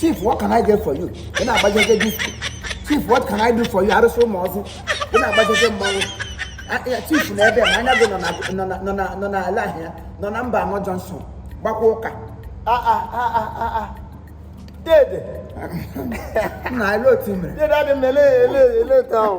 chief what can i get for you ị na-agbajeje disko chief what can i do for you arụsị ụmụọzụ ị na-agbajeje mmanwụ chief na ebe mmanya gị nọ n'ala ahịa nọ na mba anọ johnson gbakwa ụka dede nna ele otu mere dede adị m ele ele ele otu ahụ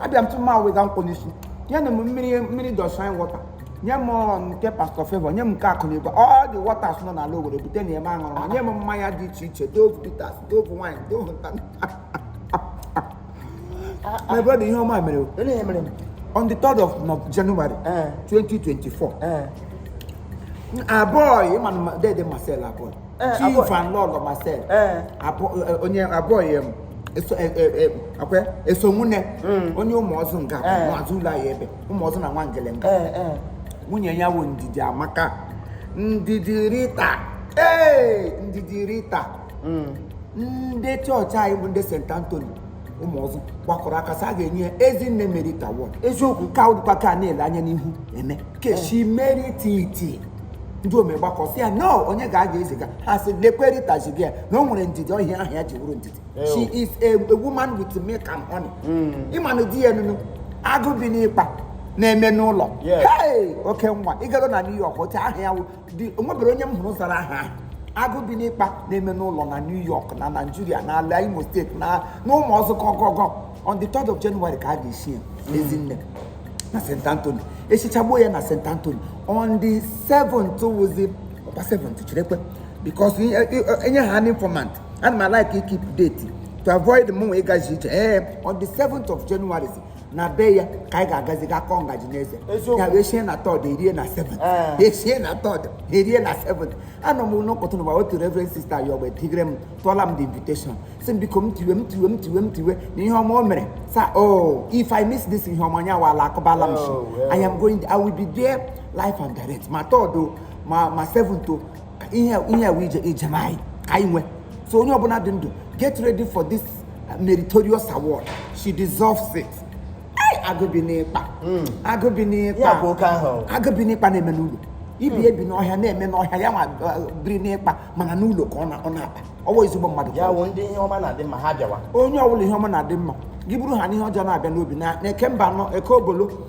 abịa m tụma wega nkwụ n'isi nye m mmiri mmiri dọshin water nye m nke pastor favour nye m nke akụ na igwe all the waters nọ n'ala owere bute nye m aṅụrụ ma nye m mmanya dị iche iche dove bitters dove wine dove nta my brother ihe ọma mere on the 3rd of January 2024 eh. eh. aboy ị ma dede marcel aboy Eh, chief aboy- and lọlọ marcel Eh. abụ- eh, eh, onye abụọ ya m eso eh, eh, eh, akwe eso nwunye onye ụmụọzụ nga bụ Eh. n'azụ ụlọ anyị ebe ụmụọzụ na nwangele nga Eh, eh. nwunye ya wụ ndidiamaka ndidi rita ee ndidi rita ndị chọọchị anyị bụ ndị st anthony ụmụọzụ gbakọrọ aka sị a ga-enye ya ezinne merit award eziokwu ka ụdịkwa ka na-ele anya n'ihu eme cause she merit it ndị ome gbakọ sị ya na onye ga-aga eziga ha sị lekwe rita ziga ya na o nwere ndidi ọ ihe aha ya ji wụrụ ndidi she is a, a woman with milk and honey ị ma na di ya nụnụ agụ bi n'ikpa na-eme n'ụlọ Yes. hey oke nwa ịgado na new york otu aha ya wụ o nwebere onye m hụrụ zara aha ahụ agụ bi n'ikpa na-eme n'ụlọ na New York na Nigeria na ala Imo state na ụmụọzụ gogogo on the 3rd of January ka a ga-eshi ya Ezinne na St. Anthony e shichagbuo ya na St. Anthony on the 7th wụzi ọ kwa 7th cherekwe because enye ha an informant ana m alike ikeep date to avoid mụnwa ịgaji ije ee on the 7th of January na be ya ka anyị ga-agazi ga kụọ ngaji n'eze ya wụ e shie na 3rd e rie na 7th e shie na 3rd e rie na 7th anọ m n'ụkọtụ n'ụwa otu reverend sister ya ọgbe tigre m tụọla m the invitation sị m biko m tiwe m tiwe m tiwe m tiwe na ihe ọma mere sa o oh, if i miss this ihe ọma nya wala akụbala m ishi oh, i am going i will be there live and direct ma 3rd ma 7th ihe ihe a wụ ije ijem anyị ka anyị nwee so onye ọbụla dị ndụ get ready for this meritorious award she deserves it Ai, agụ bi n'ikpa agụ bi n'ikpa Ya bụ oke ahụ. agụ bi n'ikpa na-eme n'ụlọ ibi ebi n'ọhịa na-eme n'ọhịa ya nwa uh, biri n'ikpa mana n'ụlọ ka ọ na- ọ na-akpa ọ bụ ezigbo mmadụ ya wụ ndị ihe ọma na-adị mma ha bịawa onye ọbụla ihe ọma na-adị mma gị bụrụ ha n'ihe ọjọọ na-abịa n'obi na na eke mba anọ eke obolo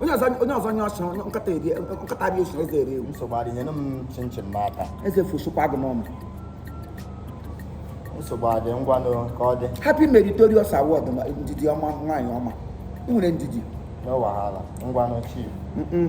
onye ọzọ onye ọzọ nye ọsọ nkata bi o si eze eri ewu nsogbu adị nyere m chinchin n'aka eze fọsọkwa agụ n'ọnụ nsogbu adị ngwa nụ ka ọ dị happy meritorious award ma ndidi ọma nwaanyị ọma ị nwere ndidi no wahala ngwa nụ chief Mm-mm.